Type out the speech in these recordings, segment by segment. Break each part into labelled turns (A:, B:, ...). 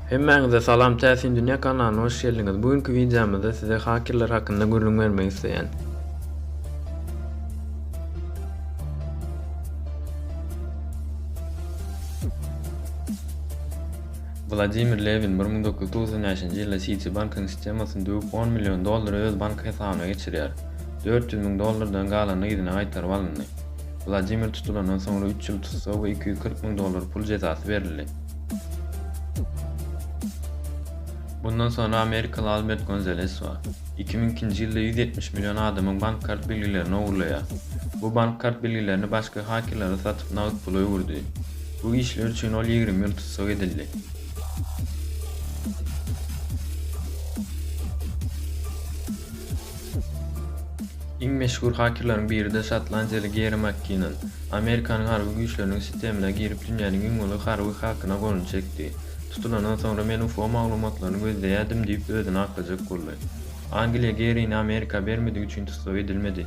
A: Hemmäňize salam Täsin Dünýä kanalyna hoş geldiňiz. Bu günki wideomyzda size hakerler hakynda gürrüň bermek isleýän. Wladimir Lewin 1995-nji ýylda Citibank-yň sistemasyny döwüp 10 million dollary öz bank hesabyna geçirýär. Dört ýüz müň dollardan galany yzyna gaýtaryp alyndy. Wladimir tutulandan soňra üç ýyl tussag we iki ýüz kyrk müň dollar pul jezasy berildi. Bundan soňra amerikaly Albert Gonzales bar. Iki müň ikinji ýylda ýüz ýetmiş million adamyň bank kart bilgilerini ogurlaýar. Bu bank kart bilgilerini başga hakerlere satyp nagt pula öwürdi. Bu işler üçin ol ýigrimi ýyl tussag edildi. Iň meşhur hakerleriň biri-de şotlandiýaly Geri Makkinan, Amerikanyň harby güýçleriniň sistemine girip dünýäniň iň uly harby hakyna golunu çekdi. Tutulandan soňra men UFO maglumatlaryny gözleýärdim diýip özüni aklajak boldy. Angliýa Gerini Amerika bermedigi üçin tussag edilmedi.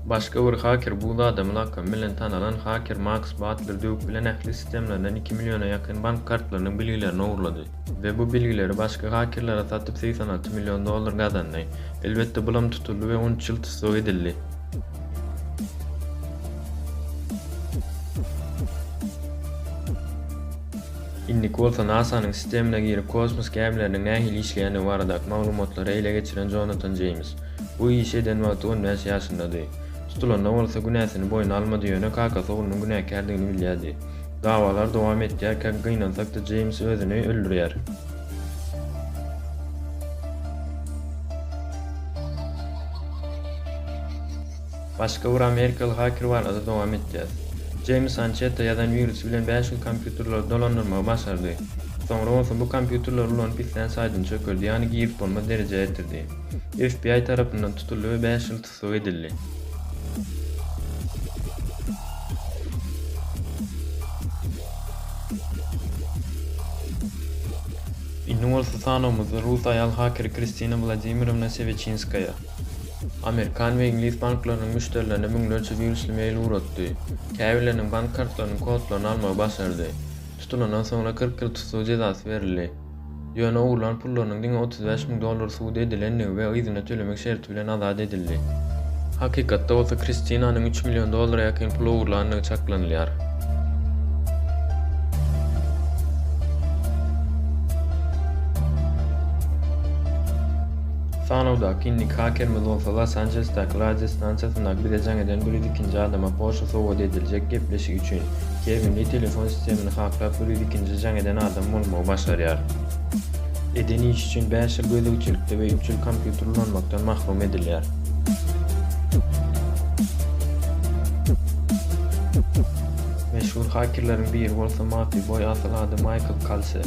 A: Başga bir haker bu zadam lakamy bilen tanalan haker Maks Batler döwük bilen ähli sistemlerinden iki milliona ýakyn bank kartlarynyň bilgilerini ogurlady. we bu bilgileri başga hakerlere satyp segsen alty million dollar gazandy. Elbetde bulam tutuldy we on üç ýyl tussag edildi. Indiki bolsa NASA-nyň sistemine girip kosmos gämileriniň nähili işleýändigi baradaky maglumatlary ele geçiren Jonatan Jeýms. Bu işi eden wagty on bäş ýaşyndady. Tutulanda bolsa günäsini boýna almady ýöne kakasy oglunyň günäkärdigini bilýärdi. Dawalar dowam etýär, käk gynansak-da Jeýms özüni öldürýär. Başga bir amerikaly haker barada dowam etýär. Jeýms Ançetta ýazan wirus bilen bäş ýüz kompýuterleri dolandyrmagy başardy. Soňra bolsa bu kompýuterleri ulanyp islän saýdyny çökerdi, ýagny girip bolmaz derejä ýetirdi. FBI tarapyndan tutuldy we bäş ýyl tussag edildi. Indi bolsa sanawymyzda rus aýal hakeri Kristina Wladimirovna Seweçinskaýa amerikan we iňlis banklarynyň müşderilerine müňlerçe wirusly mail ugratdy. Käbirleriniň bank kartlarynyň kodlaryny almagy başardy. Tutulandan soňra kyrk ýyl tussag jezasy berildi. Ýöne ogurlan pullarynyň diňe otuz bäş müň dollary subut edilendigi we yzyna tölemek şerti bilen azat edildi. Hakykatda bolsa Kristinanyň üç million dollara ýakyn pul ogurlandygy çaklanylýar. Sanawdaky indiki hakerimiz bolsa Los Anjelesdäki radio stansiýasyndaky bize jaň eden bir ýüz ikinji adama Porsche sowgat ediljek gepleşik üçin Tebigy telefon sistemini haklap bir ýüz ikinji jaň eden adam bolmagy başarýar. Eden işi üçin bäş ýyl gözegçilikde we üç ýyl kompýuter ulanmakdan mahrum edilýär. Meşhur hakerleriň biri bolsa Maty boý asyl ady Maýkl Kalse.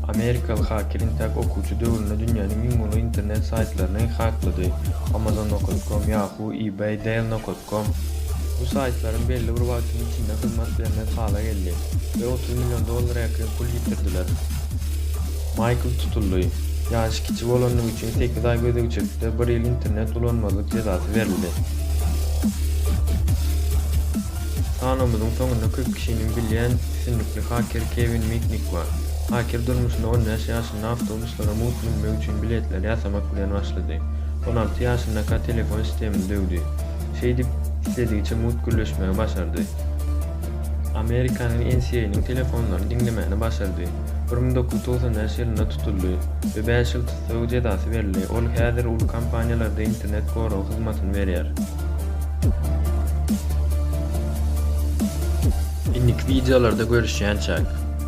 A: Amerikaly haker intäk okuwçy döwründe dünýäniň iň uly internet saýtlaryny haklady, Amazon. Com, Yahoo, eBay, Dell. Com. Bu saýtlaryň belli bir wagtyň içinde hyzmat bermez hala geldi we otuz million dollara ýakyn pul ýitirdiler. Maýkl tutuldy. Ýaşy kiçi bolandygy üçin sekiz aý gözegçilikde bir ýyl internet ulanmazlyk jezasy berildi. Sanawymyzyň soňunda köp kişiniň bilýän sütünlikli haker Kewin Mitnik bar. Haker durmuşynda on bäş ýaşynda ýaşynda awtobuslara mugt münmek üçin biletler ýasamak bilen başlady. On alty ýaşyndaka telefon sistemini döwdi. Şeýdip, isledigiçe mugt gürleşmegi başardy. Amerikanyň NCA-nyň telefonlaryny diňlemegini başardy. Bir müň dokuz ýüz togsan bäş ýylynda tutuldy we bäş ýyl tussag jezasy berildi. Ol häzir uly kompaniýalarda internet goragy hyzmatyny berýär. Indiki wideolarda görüşýänçäk.